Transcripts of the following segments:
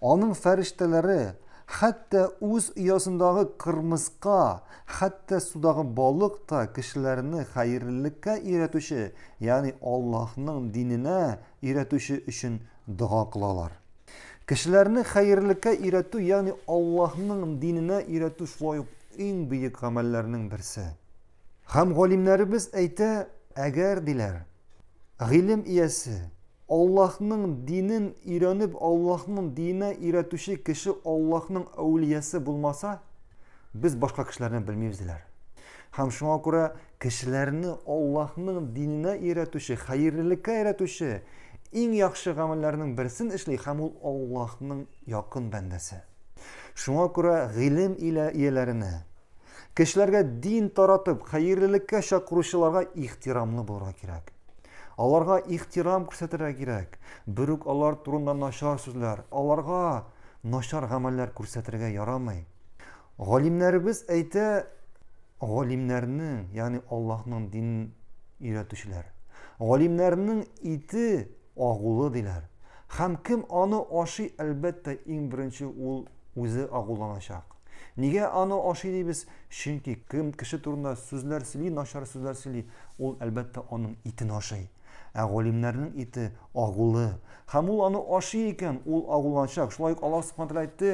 Аның фәрештәләре хәтта үз оясындагы кырмыска, хәтта судагы балык та кешеләрне хәерлелеккә өйрәтүче, ягъни Аллаһның диненә өйрәтүче өчен дога кылалар. Кешеләрне хәерлелеккә өйрәтү, ягъни Аллаһның диненә өйрәтү шулай ук иң бөек гамәлләрнең берсе. Һәм галимнәребез әйтә, әгәр, диләр, гыйлем иясе, Аллаһның динен өйрәнеп, Аллаһның диненә өйрәтүче кеше Аллаһның әүлиясе булмаса, без башка кешеләрне белмибез, диләр. Һәм шуңа күрә кешеләрне Аллаһның диненә өйрәтүче, хәерлелеккә өйрәтүче иң яхшы гамәлләрнең берсен эшли һәм ул Аллаһның якын бәндәсе. Шуңа күрә гыйлем илә ияләренә, Кешеләргә дин таратып, хәерлелеккә чакыручыларга ихтирамлы булырга кирәк. Аларга ихтирам күрсәтергә кирәк. Бер үк алар турында начар сүзләр, аларга начар гамәлләр күрсәтергә ярамый. Галимнәребез әйтә, галимнәрнең, ягъни Аллаһның дин өйрәтүчеләр. Галимнәрнең ите агулы диләр. Һәм кем аны ашый, әлбәттә, иң беренче ул үзе агуланачак. Нигә аны ашый дибез? Чөнки кем кеше турында сүзләр сөйли, начар сүзләр сөйли, ул, әлбәттә, аның итен ашый. Ә галимнәрнең ите агулы. Һәм ул аны ашый икән, ул агуланачак. Шулай ук Аллаһ Субхану тәгалә әйтте,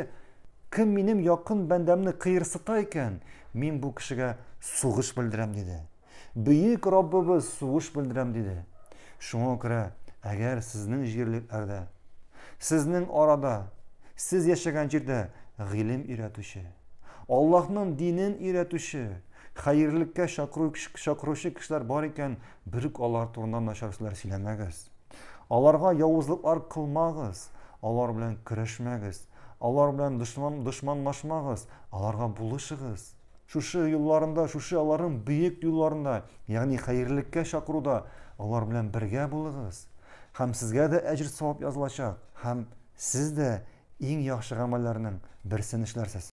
кем минем якын бәндәмне кыерсыта икән, мин бу кешегә сугыш белдерәм, диде. Бөек Раббыбыз сугыш белдерәм диде. Шуңа күрә, әгәр сезнең җирлек-әрдә, сезнең арада, сез яшәгән җирдә гыйлем өйрәтүче, Аллаһның динен өйрәтүче, хәерлеккә чакыручы кешеләр бар икән, берүк алар турында начар сүзләр сөйләмәгез. Аларга явызлыклар кылмагыз, алар белән көрәшмәгез, алар белән дошманлашмагыз, аларга булышыгыз. Шушы юлларында, шушы аларның бөек юлларында, ягъни хәерлеккә чакыруда алар белән бергә булыгыз. Һәм сезгә дә әҗер-савап язылачак, һәм сез дә иң яхшы гамәлләрнең берсен эшләрсез.